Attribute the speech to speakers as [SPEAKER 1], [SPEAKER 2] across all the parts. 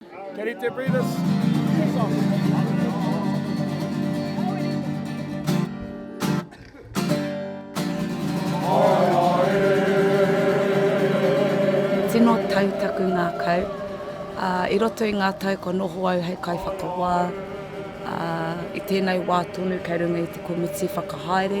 [SPEAKER 1] Tino tau taku ngakau, a, i roto i nga tau kua noho au hei kaiwhakawā, a, i tenei wā tonu kei runga i te komiti whakahaere,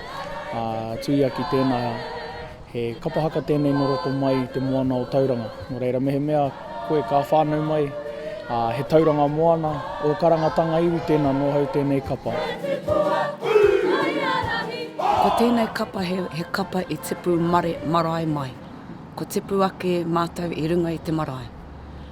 [SPEAKER 2] ā, tuia ki tēnā, he kapa haka tēnei nō roto mai i te moana o Tauranga. Nō reira, mehemea koe ka whānau mai, ā, he tauranga moana, ō karangatanga iwi tēnā nō hau tēnei kapa.
[SPEAKER 1] Ko tēnei kapa he, he kapa i tipu mare, marae mai. Ko tipu ake mātou i runga i te marae.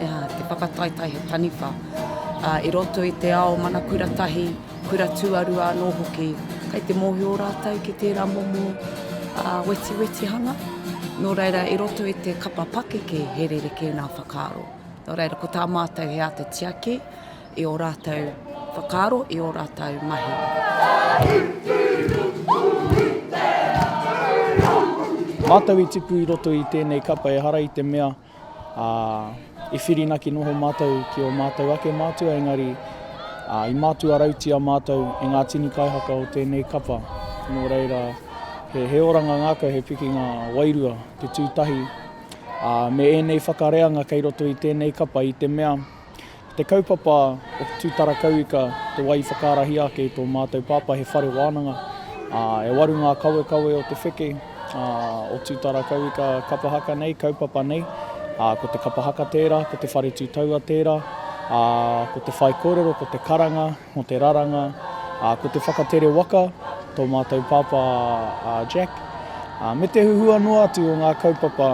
[SPEAKER 1] te whakataetae he taniwha, ā, i roto i te ao mana kura tahi, kura tuarua anō hoki, kei te mōhio rātou ki tērā momo wetiwetihanga, nō reira i roto i te kapa pakeke he rerekē ngā whakaaro. Nō reira, ko tā mātou he āta tiaki i ō rātou whakaaro, i ō rātou mahi.
[SPEAKER 2] Mātou i tipu i roto i tēnei kapa ehara i te mea Ā, i whirinaki noho mātou ki ō mātou ake mātua engari, ā, i mātua rautia mātou e ngā tini kaihaka o tēnei kapa. Nō reira, he, he oranga ngākau, he pikinga wairua te tū tahi, ā, me ēnei whakareanga kei roto i tēnei kapa i te mea, Ko te kaupapa o te tūtara kauika te wā i whakaarahia ake i tō mātou pāpā he whare wānanga, ā, e waru ngā kawekawe o te wheke, ā, o tūtara kauika kapa haka nei, kaupapa nei, ā, ko te kapa haka tērā, ko te whare tū taua tērā, ā, ko te whaikōrero, ko te karanga mō te raranga, ā, ko te whakatere waka, tō mātou pāpā a Jack, ā, me te huhua noa atu o ngā kaupapa.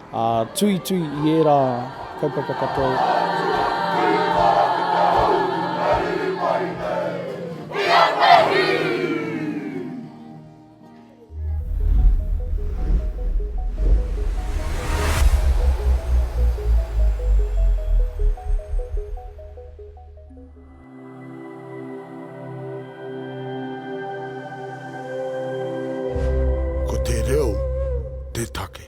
[SPEAKER 2] Ā, tuitui i ērā kaupapa katoa. Ko te reo te take.